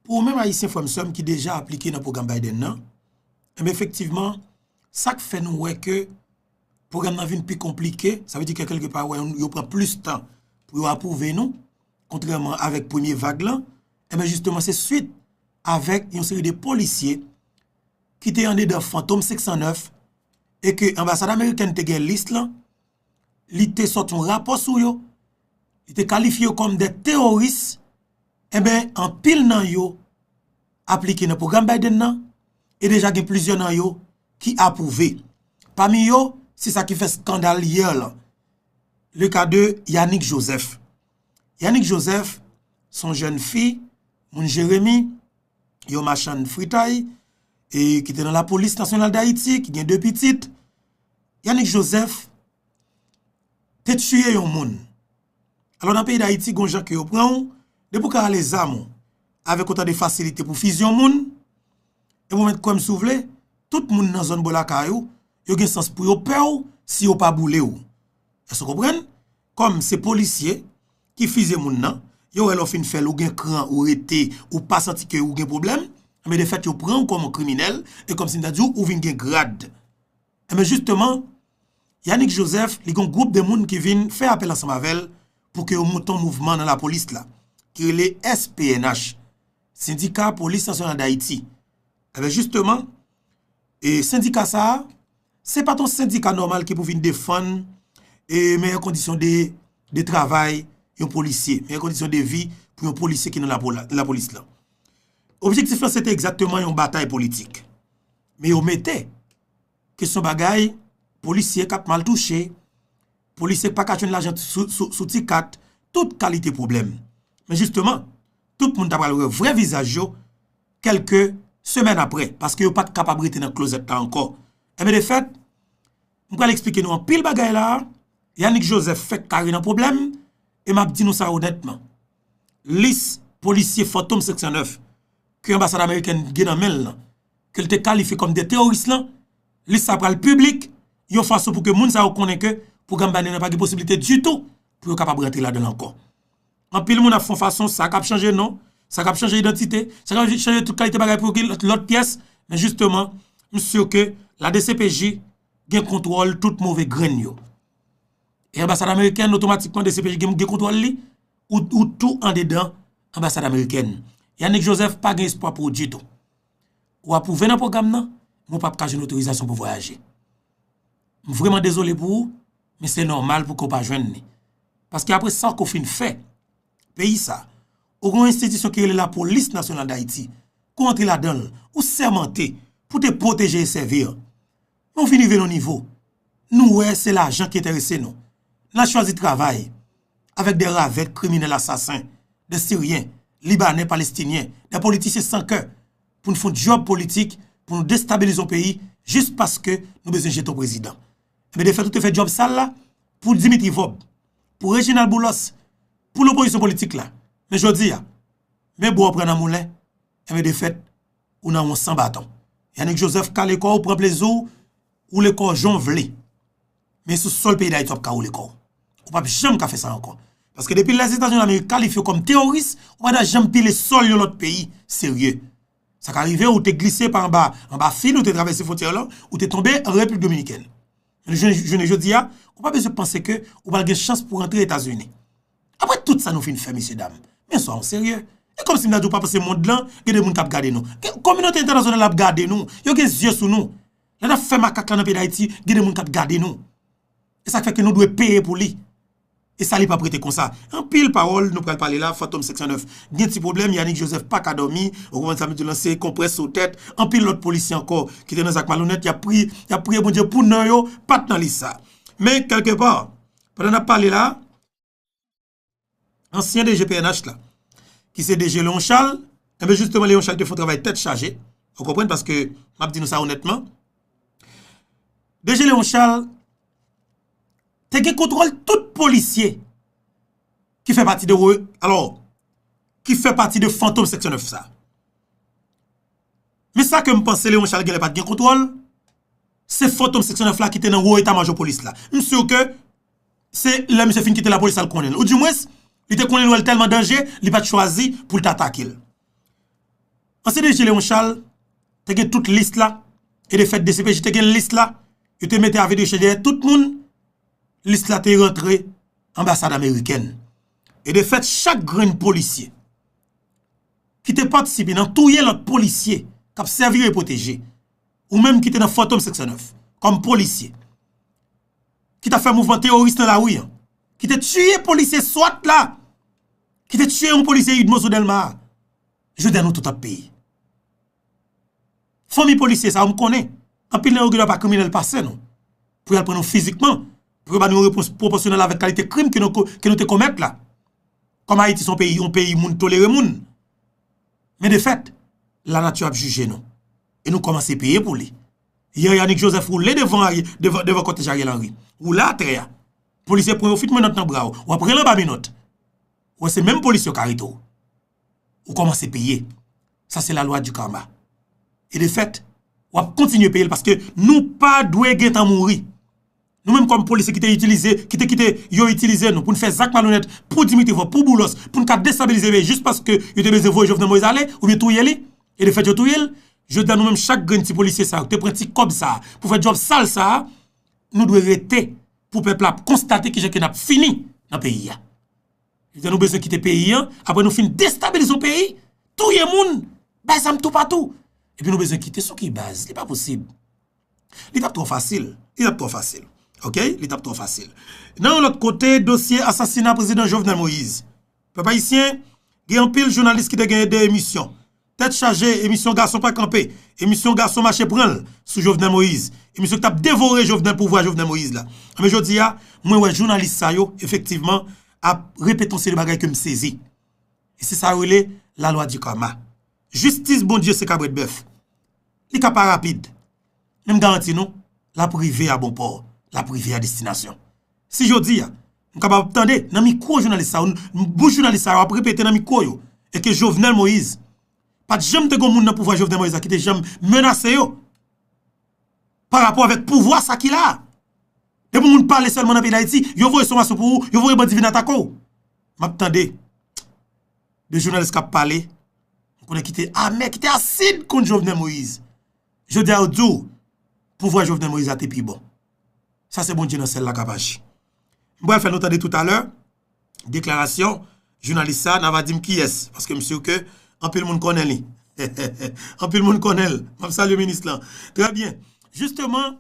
Pou ou menm Ayisyen frè m sè m ki deja aplike nan pwogram Biden nan, enben efektivman sa k fè nou wè ke pwogram nan vin pi konplike, sa vle di ke kelke pa wè yo pran plis tan pou yo apwouve nou, kontrèman avèk premye vag lan, enben jisteman se swit avèk yon seri de polisye ki te andedan Fantom 509 e ke anbasad amerikèn te gen lis lan, li te sòti yon rapò sou yo, li te kalifye yo kòm de teworis, enben anpil nan yo aplike nan pwogram Biden nan, e deja gen plizyè nan yo ki apwouve. Pami yo, se sa ki fè skandal yè lan, le ka de Yanick Joseph. Yanick Joseph, son jèn fi, moun Jeremi, yon machann fritay, e ki te nan lapolis nasyonal Dayiti, ki gen 2 pitit, Yanick Joseph te tiye yon moun. Alò nan peyi Dayiti gon jan ke yo pran ou, depi ou ka ale zam ou, avèk otan de fasilite pou fizyon moun, e mwen mèt kwè m si w vle, tout moun nan zòn bò lakay ou, yo gen sans pou yo pè w si yo pa boule w. Èske w konprann? Kòm se polisye ki fize moun nan, yo wè lè w fin fè l, ou gen kran, ou rete, ou pa santi ke ou gen pwoblèm, enben de fèt yo pran ou kòm yon kriminèl, e kòm si m ta di w, ou vin gen grad. Enben jisteman, Yanick Joseph, li gen yon gwoup de moun ki vin fè apèl ansanm avè l pou ke yo monte yon mouvman nan lapolis la, ki rele SPNH, Sendika Polis Nasyonal Dayiti. Enben jisteman, e sendika sa a, Se pa t yon sendika nòmal ki pou vin defann meyè kondisyon de travay yon polisye, meyè kondisyon de vi pou yon polisye ki nan lapolis lan. Objektif lan se te egzakteman yon batay politik. Men yo mete kesyon bagay polisye k ap mal touche, Polisye pa ka jwenn lajan sou ti kat, tout kalite pwoblèm. Men jisteman, tout moun ta pral wè vrè vizaj yo kèlke semèn apre, paske yo pa t kapab rete nan klozèt la ankò. Enben de fèt, m pral esplike nou anpil bagay la a, Yanick Joseph fèk kare nan pwoblèm, e m ap di nou sa onètman. Lis polisye fantom 509 ke anbasad amerikèn gen nan men l lan, ke l te kalifye kòm de teworis lan, lis sa pral piblik yon fason pou ke moun sa yo konnen ke pwogram Biden nan pa gen posiblite ditou pou yo kapab rantre ladan l ankò. Anpil moun ap fon fason sa kap chanje non, sa kap chanje idantite, sa kap chanje tout kalite bagay pou ki lòt pyès, men jisteman, m sur ke la dcpj gen kontwòl tout move grenn yo. E anbasad amerikèn otomatikman dcpj gen kontwòl li? Ou tou andedan anbasad amerikèn. Yanick Joseph pa gen espwa pou ou ditou. Ou apwouve nan pwogram nan, men ou pap ka jwenn otorizasyon pou vwayaje. M vreman dezole pou ou, men se nòmal pou ke ou pa jwenn li. Paske apre sa ke ou fin fè peyi sa, ou gen yon enstitisyon ki rele Lapolis Nasyonal Dayiti, ke ou antre ladan l, ou sèmante pou te pwoteje e sèvi. Nou vin rive nan nivo, nou wè se lajan ki enterese nou. N a chwazi travay avèk de ravèt kriminèl asasen, de siryen, libanè, palestinyen, de politisyen san kè pou n fon dyòb politik pou nou destabilize yon peyi jis paske nou bezwen jete yon prezidan. Enben de fèt ou te fè dyòb sal la pou Dimitri Vob, pou Reginald Boulos, pou lopozisyon politik la. Men jodi a, men bo w pran nan moulen, enben de fèt. Ou nan yon san baton. Yanick Joseph kale kò ou pran plezi w woule kò w jan w vle. Men sou sòl peyi Dayiti w ap ka woule kò w. Ou pap janm ka fè sa ankò. Paske depi Lèzetazini Damerik kalifye w kòm teworis, ou pa ta janm pile sòl yon lòt peyi serye. Sa ka rive ou te glise pa anba, anba fil ou te travèse fwontyè w lan, ou te tonbe an Repiblik Dominikèn. Men jounen jodi a, ou pa bezwen panse ke ou pral gen chans pou rantre Etazini. Apre tout sa nou fin fè mesye dam, men swa nou serye. E kòmsi m ta di w pa panse mond lan gen de moun k ap gade nou? Kominote entènasyonal la ap gade nou, yo gen zye sou nou. Lè n ap fè makak la nan peyi Dayiti, gen de moun k ap gade nou. E sa k fè ke nou dwe peye pou li. E sa li p ap rete konsa. Anpil pawòl nou pral pale la, Fantom 509 gen ti pwoblèm, Yanick Joseph pa ka dòmi, ou konprann sa m vle di w lan, se konprès sou tèt. Anpil lòt polisye ankò ki te nan zak malonèt, y ap priye, y ap priye Bondye pou non yo pa t nan lis sa. Men kèlkepà, Pandan nap pale la, ansyen DG pnh la, ki se DG Léon Charles, enben jisteman Léon Charles te fon travay tèt chaje, ou konprann paske map di nou sa onètman, DG Léon Charles te gen kontwòl tout polisye ki fè pati de, alò, ki fè pati de fantom seksyon 9 sa. Men sa ke m panse Léon Charles genlè pa t gen kontwòl, se fantom 509 la ki te nan wo eta majò polis la. M sur ke se lè misye fin kite lapolis la l konnen l. Ou di mwens, li te konnen l wè l tèlman danje, li pa t chwazi pou l t atake l. Ansyen DG Léon Charles te gen tout lis la, e de fèt dcpj te gen lis la, yo te mete avi de chè dèyè tout moun, lis la te rantre anbasad amerikèn. E de fèt chak grenn polisye. ki te patisipe nan touye lòt polisye k ap sèvi yo e pwoteje, ou menm ki te nan Fantom 509 kòm polisye, ki t ap fè mouvman teworis nan lari an, ki te tiye polisye swat la, ki te tiye yon polisye udmo sou Dèlma a, jodi a nou tout ap peye. Fanmi polisye sa yo m konnen anpil nan yo gen dwa pa kriminèl pase nou pou y al pran nou fizikman pou yo ba nou yon repons pwopòsyonèl avèk kalite krim ke nou te komèt la. Kòm Ayiti se yon peyi, yon peyi moun tolere moun. Men de fèt, lanati ap jije nou. E nou kòmanse peye pou li. Yè Yannick Joseph woule devan kòtèj Ariel Henry. Woule atè a. Polisye pran yon fitmènòt nan bra w. W ap rele anba menòt. Wè se menm polis yo k arete w. ou komanse peye. Sa se la lwa di karma. E de fèt, w ap kontinye peye l paske nou pa dwe gen tan mouri. Nou menm kòm polisye ki te itilize, ki te kite yo itilize nou pou n fè zak malonèt pou Dimitri Vorbe, pou Boulos, pou n ka destabilize peyi jis paske yo te bezwen voye Jovenel Moïse ale oubyen touye li. E de fèt yo touye l. Jodi a nou menm chak grenn ti polisye sa yo ki te pran ti kòb sa a pou fè djòb sal sa a, nou dwe rete pou pèp la ap konstate kijan ke n ap fini nan peyi a. Lè nou bezwen kite peyi an, apre nou fin destabilize yon peyi, touye moun, bay zam toupatou, epi nou bezwen kite, sou ki baz? Li pa posib. Li t ap twò fasil. Li t ap twò fasil. Ok? Li t ap twò fasil. Nan yon lòt kote, dosye asasina Prezidan Jovenel Moïse. Pèp Ayisyen, gen anpil jounalis ki te gen 2 emisyon. Tèt chaje, emisyon gason pa kanpe, emisyon gason mache pran l sou Jovenel Moïse, emisyon ki t ap devore Jovenel pouvwa Jovenel Moïse la. Enben jodi a, mwen wè jounalis sa yo efektivman ap repete yon seri bagay ke m sezi. E se sa yo rele la lwa di karma. Jistis Bondye se kabrèt bèf. Li ka pa rapid, men m garanti nou l ap rive a bon pò, l ap rive a destinasyon. Si jodi a, nou kapab ap tande nan mikwo jounalis sa yo, bouch jounalis sa yo ap repete nan mikwo yo, e ke Jovenel Moïse, pa t janm te gon moun nan pouvwa Jovenel Moïse la ki te janm menase yo, pa rapò avèk pouvwa sa ki la a. Depi moun pale sèlman nan peyi Dayiti, yo voye somasyon pou ou, yo voye bandi vin atake ou. M ap tande de jounalis k ap pale, m konnen ki te amè, ki te asid kont Jovenel Moïse. Jodi a yo di w, pouvwa Jovenel Moïse la te pi bon. Sa se Bondye nan syèl la k ap aji. M pral fè nou tande toutalè deklarasyon jounalis sa a, n a va di m kiyès paske m sur ke anpil moun konnen li. Anpil moun konnen l. M ap salye minis lan. Trè byen. Jisteman,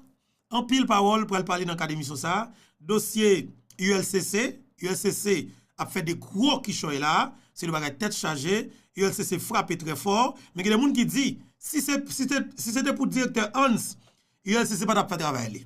anpil pawòl pral pale nan kad emisyon sa a. Dosye ULCC, ULCC ap fè de gwo kichòy la a. Se de bagay tèt chaje. ULCC frape trè fò. Men gen de moun ki di, si se te pou direktè Hans, ULCC pa tap fè travay li.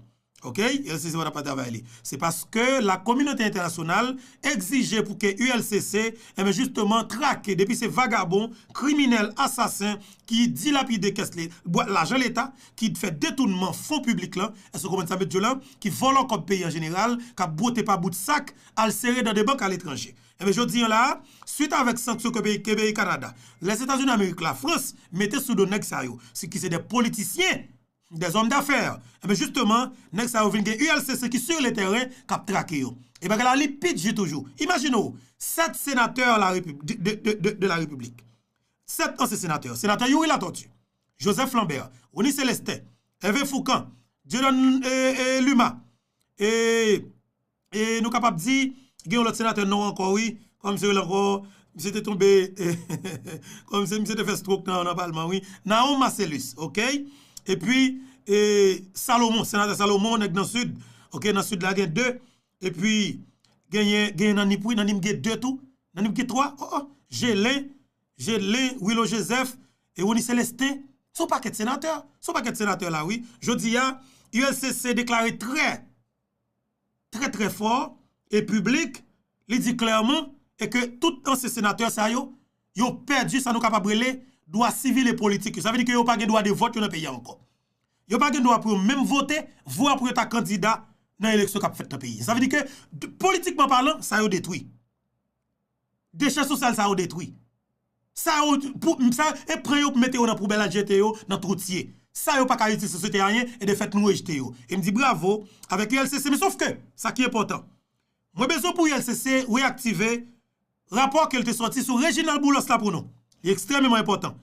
Ok. ULCC pa tap fè travay li. Se paske la kominote entènasyonal egzije pou ke ULCC, enben jisteman trake depi se vagabon, kriminèl, asasen ki dilapide kès le, bwa lajan leta, ki fè detounman fon piblik lan, èske w konprann sa met Djolin, ki vòlò kòb peyi an jeneral, kap bwote pa bout sak, al sere dan de bank aletranje. Enben jodi an la a, swit avèk sanksyon ke peyi ke peyi Kanada, Lèzetazini Amerik, Lafrans mete sou do nèg sa yo, si ki se de politisyen, de zòm dafè, enben jisteman nèg sa yo vin gen ULCC ki sur le tèren k ap trake yo. E bagay la li pi di toujou. Imajine w, 7 senatè la repu de de de de de la Repiblik, 7 ansyen senatè, senatè Youri Latortue, Joseph Lambert, Rony Celestin, Hervé Fourcand, Dieudonne e e Luma, e. e nou kapab di gen yon lòt senatè non ankò wi kòman misye rele ankò misye te tonbe kòman se misye te fè strok nan palman wi Nahon Marcellus ok epi e Salomon senatè Salomon nèg nan sid ok nan sid la gen 2 epi genyen genyen nan nip wi nan nip gen 2 tou nan nip gen 3 o o Gelin Gelin Wilon Joseph e Rony Celestin se yon pakèt senatè se yon pakèt senatè la wi jodi a ULCC deklare trè. trè trè fò e piblik, li di klèman e ke tout ansyen senatè sa yo, yo pèdi sa nou kapab rele dwa sivil e politik yo. Sa vle di ke yo pa gen dwa de vòt yo nan peyi a ankò. Yo pa gen dwa pou yo menm vote, vwa pou yo ta kandida nan eleksyon k ap fèt nan peyi a. Sa vle di ke politikman palan, sa yo detwi. Dechè sosyal sa yo detwi. Sa yo pou sa e pran yo pou mete yo nan poubèl al jete yo nan twou tiye. Sa yo pa ka itil sosyete anyen e de fèt nou rejte yo. E m di bravo avèk ULCC men sof ke sa ki enpòtan. Mwen bezwen pou ULCC reyaktive rapò ke l te sòti sou Reginald Boulos la pou nou. Li ekstrèmeman enpòtan.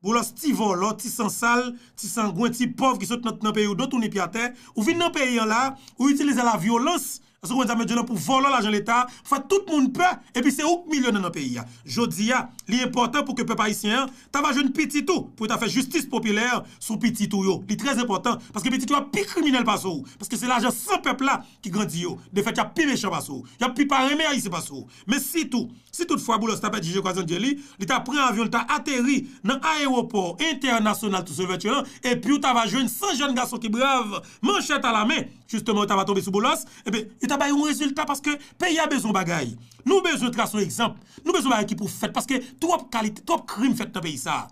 Boulos ti vòlò, ti sansal, ti sangwen, ti pòv ki sot nan peyi w do tounin pi atè, ou vin nan peyi an la, ou itilize la vyolans, èske w konn sa m vle di w la, pou vòlò lajan leta, pou fè tout moun pè, epi se ou k milyonè nan peyi a. Jodi a, li enpòtan pou ke pèp ayisyen an ta va jwenn pitit ou, pou yo ta fè jistis popilè sou pitit ou yo. Li trè enpòtan, paske pitit ou yo ap pi kriminèl pase w, paske se lajan san pèp la ki grandi yo. Defèt y ap pi mechan pase w. Y ap pi pa renmen Ayisyen pase w. Men sitou, si tout fwa Boulos ta pèdi je kwazandye li, li ta pran avyon li ta ateri nan ayewopò entènasyonal Toussaint Louverture an, epi ou ta va jwenn 100 jèn gason ki brav, manchèt alamen, jisteman yo ta va tonbe sou Boulos, ebyen, yo ta bay yon rezilta paske peyi a bezwen bagay. Nou bezwen trase yon egzanp, nou bezwen bagay ki pou fèt paske twòp kalite, twòp krim fèt nan peyi sa a.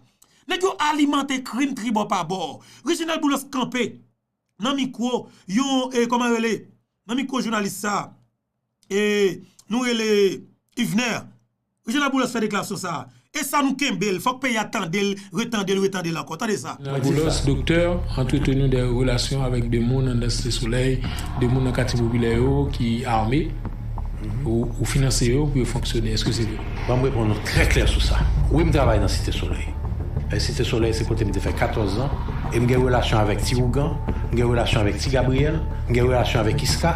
Nèg yo alimante krim tribò pa bò. Reginald Boulos kanpe nan mikwo yon, e kòman rele, nan mikwo jounalis sa a, nou rele Yvener Michel Laboulos fè deklarasyon sa a e sa nou kenbe l fòk peyi a tande l retande l retande l ankò tande sa. Laboulos doktè antreteni de relasyon avèk de moun anndan site solèy de moun nan katye popilè yo ki ame ou finanse yo pou yo fonksyone eske se vre. Banm reponn ou trè klè sou sa wi m travay nan site solèy e site solèy se kote m te fè 14 zan e m gen relasyon avèk ti ougan m gen relasyon avèk ti Gabriel m gen relasyon avèk Isca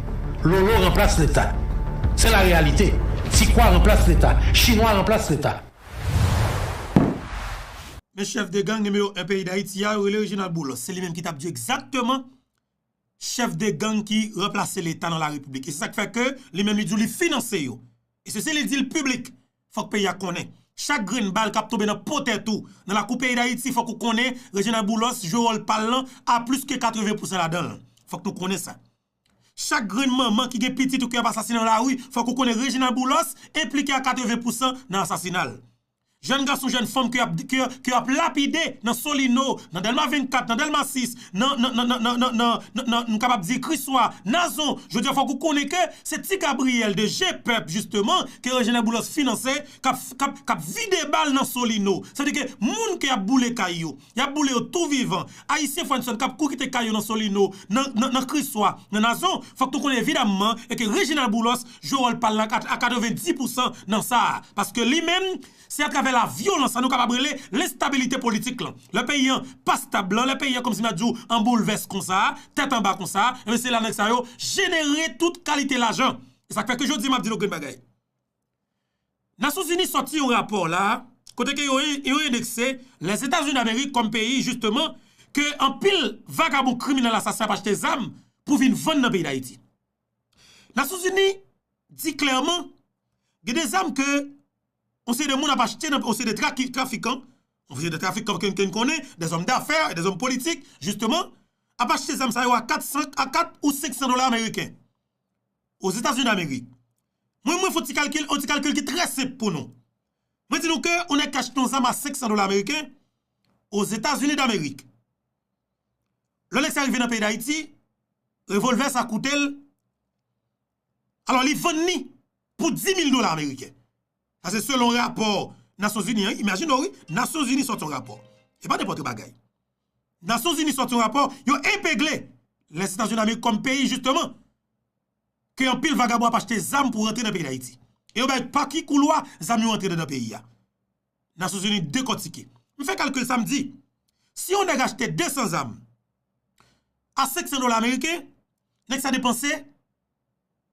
Lolo ranplas leta se la reyalite ti kwa ranplas leta chinwa ranplas leta. Men chèf de gang nimewo 1 peyi dayiti a yo rele Reginald Boulos se li menm ki tap di yo egzakteman chèf de gang ki ranplase leta nan la repiblik e se sak fè ke li menm li di yo li finanse yo e se si li dil piblik fòk peyi a konnen chak grenn bal kap tonbe nan po tèt ou nan lakou peyi dayiti fòk ou konnen Reginald Boulos jwe wòl pal lan a plis ke 80 pousan ladanl fòk nou konnen sa. Chak grenn manman ki gen pitit ou ke yap asasine nan lari fòk ou konnen Reginald Boulos enplike a 80 pousan nan asasina l. Jèn gason jèn fanm ke yap ke yap lapide nan Solino, nan Dèlma 24, nan Dèlma 6, nan nan nan nan nan nan nan nan m kapab di Kriswa, Nazon, jodi a fòk ou konnen ke se ti Gabriel de je pèp jisteman ke Reginald Boulos finanse kap kap kap vide bal nan Solino. Sa vle di ke moun ke yap boule kay yo, Yap boule yo tou vivan. Ayisyen Frenson kap kou kite kay yo nan Solino, nan Kriswa, nan Nazon, fòk nou konnen evidamman e ke Reginald Boulos jwe wòl pal la a 90 pousan nan sa a. Paske li menm, se a travè la vyolans sa nou kapab rele lenstabilite politik lan. Lè peyi an pa stab lan, lè peyi an kòmsi ma di w an boulvès konsa, tèt anba konsa, enben se la nèg sa yo jenere tout kalite lajan. E sak fè ke jodi map di nou grenn bagay. Nasyonzini sòti yon rapò la a kote ke yo endekse Lèzetazini Damerik kòm peyi jisteman ke anpil vagabon kriminèl asasen ap achte zam pou vin vann nan peyi Dayiti. Nasyonzini di klèman gen de zam ke yon seri de moun ap achte nan yon seri de trafikan, yon seri de trafikan ke n konnen, de zòm dafè, de zòm politik jisteman ap achte zam sa yo a 4 ou 500 dola ameriken Ozetazini Damerik. Mwen mwen fon ti kalkil, yon ti kalkil ki trè senp pou nou. Mwen di nou ke yon nèg ki achte yon zam a 500 dola ameriken o Zetazini damerik. Lò nèg sa rive nan peyi dayiti, revolvè sa koute l, alò li vann ni pou 10.000 dola ameriken. Sa se selon rapò Nasyon Zini an, imajine w wi, Nasyon Zini sòti yon rapò. E pa nenpòt yon bagay. Nasyon Zini sòti yon rapò, yo epegle Lèzetazini damerik kòm peyi jisteman. ke anpil vagabon ap achte zam pou rantre nan peyi Dayiti. E yo bay pa ki koulwa zam yo rantre dandan peyi a. Nasyon Zini dekòtike. M fè kalkil sa m di, si yon nèg achte 200 zam a 500 dola ameriken, nèg sa depanse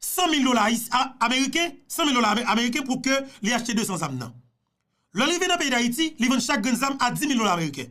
100 mil dola ameriken, 100 mil dola ameriken pou ke li achte 200 zam nan. Lè l rive nan peyi Dayiti, li vann chak grenn zam a 10 mil dola ameriken.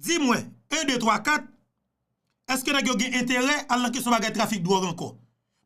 Di mwen, 1, 2, 3, 4, eske nèg yo gen enterè al nan kesyon bagay trafik dwòg ankò?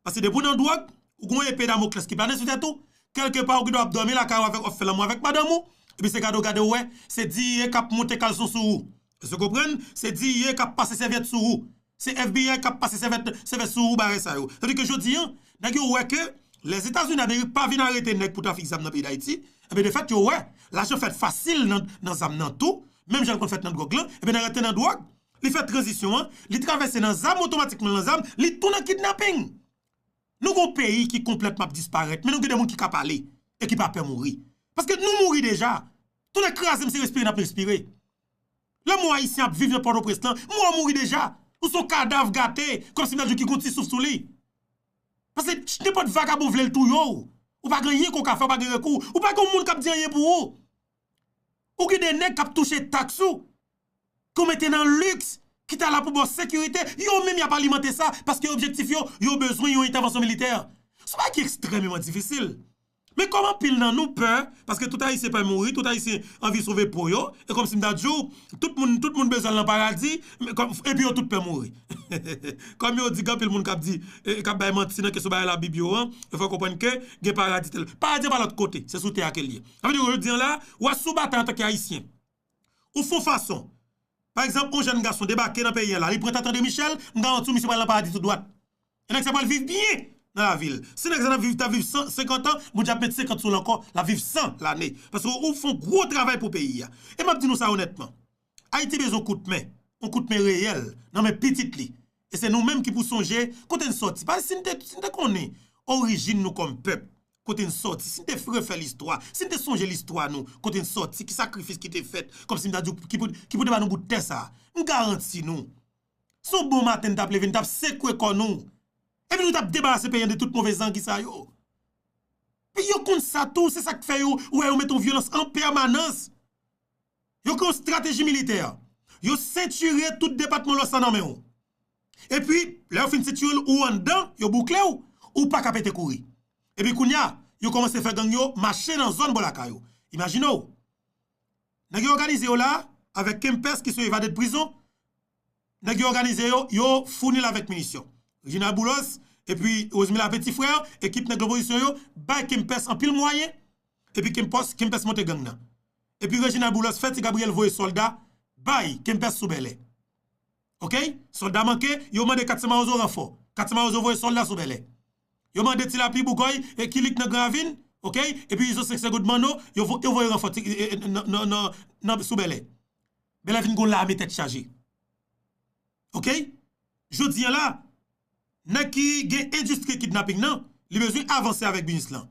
Paske depi w nan dwòg, ou gen yon epe damoklès ki plane sou tèt ou, kèlke pa ou gen dwa ap dòmi lakay ou avèk, ap fè lanmou avèk madanm ou, epi se gade w gade w wè, se diiye k ap monte kalson sou ou. Èske w konprann? Se diiye k ap pase sèvyèt sou ou. Se FBI kap pase sèvèt sèvèt sou bare sa yo. Sadi ke jodi an, nèg yo wè ke Lèzetazini Amerik pa vin arete nèg pou trafik zam nan peyi Dayiti, enben de fèt yo wè lajan fèt fasil nan zam nan tou, menm jan l konn fèt nan dwòg lan, enben nan rantre nan dwòg, li fè tranzisyon an, li travèse nan zam otomatikman nan zam, li tou nan kidnaping. Nou gon peyi ki konplètman ap disparèt, men nou gen de moun ki ka pale e ki pa pè mouri. Paske nou mouri deja, tou nèg kraze m se respire nap respire. Lè m wè Ayisyen ap viv nan Pòtoprens lan, m wè w mouri deja. Ou s on kadav gate, kòmsi m ta di w ki gen yon ti souf sou li. Pase nenpòt vagabon vle l touye w. Ou pa gen anyen ke w ka fè, ou pa gen rekou. Ou pa gen yon moun k ap di anyen pou ou. Ou gen de nèg k ap touche taks ou, ke w mete nan liks, ki ta la pou ba w sekirite. Yo menm y ap alimante sa, paske objektif yo, yo bezwen yon entèvansyon militè. Sa pa ki ekstrèmeman difisil. Men kòm anpil nan nou pè, paske tout Ayisyen pè mouri, tout Ayisyen anvi sove po yo, e kòm si m ta di w, tout moun, tout moun bezwen al nan paradi, epi yo tout pè mouri. Kòm yo di, gen anpil moun k ap di, k ap bay manti nan kesyon bagay Labib yo an, yo fè konprann ke gen paradi tèlè. Paradi an pa lòt kote, se sou tè a ke l ye. Sa vle di, jodi an la, ou a sou batay antanke Ayisyen. Ou fon fason. Pa egzanp, yon jèn gason debake nan peyi a la, li pran Tante Demichèl, m garanti w misye pral nan paradi tou dwat. E nèg sa pral viv byen nan lavi l. Si nèg sa tap viv, tap viv 100, 50 an, Bondye ap met 50 sou l ankò, l ap viv 100 lane. Paske ou fon gwo travay pou peyi a. E m ap di nou sa onètman, Ayiti bezwen yon kout men, yon kout men reyèl nan men pitit li. E se nou menm ki pou sonje kote n sòti. Paske si n te si n te konnen orijin nou kòm pèp, kote n sòti, si n te refè listwa, si n te sonje listwa nou, kote n sòti, ki sakrifis ki te fèt, kòmsi m ta di w ki pou ki pou te ba nou bout tè sa a. M garanti nou, se yon bon maten n t ap leve, n t ap sekwe kò nou. Epi nou t ap debarase peyi an de tout move zangi sa yo. Yo konn sa tou, se sa k fè yo, ou wè yo mete yon vyolans an pèmanans. Yo gen yon strateji militè. Yo sentire tout depatman lwès la nan men ou. Epi, lè yo fin sentire l, ou anndan, yo boukle ou, ou pa ka pete kouri. Epi kounye a, yo kòmanse fè gang yo mache nan zòn bò lakay ou. Imajine w. Nèg yo òganize yo la a, avèk Kempès ki sou evade de prizon, nèg yo òganize yo, yo founi l avèk minisyon. Reginald Boulos, epi Rosemila Peti Frè, ekip nèg lopozisyon yo, bay Kempès anpil mwayen, epi Kempès monte gang nan. epi Reginald Boulos fè ti Gabriel voye solda bay Kempès sou Bèlè ok solda manke yo mande Katse Mawozo ranfò Katse Mawozo voye solda sou Bèlè yo mande ti Lapli Bougòy e Kilik nan Gran Ravin ok epi Izo Sek Segond Manno yo voye ranfò nan sou Bèlè Bèlè vin gon lame tèt chaje ok jodi an la nèg ki gen endistri kidnaping nan li bezwen avanse avèk biznis lan.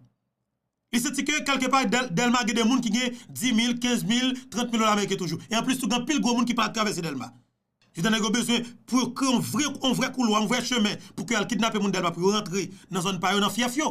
Li santi ke kèlke pa Dèlma gen de moun ki gen 10 mil, 15 mil, 30 mil dola meriken toujou. E anplis tou gen anpil gwo moun ki pa ap travèse Dèlma. Etan nèg yo bezwen pou yo kreye yon vre koulwa, yon vre chemen pou ke al kidnape moun Dèlma pou yo rantre nan zòn pa yo, nan fyèf yo.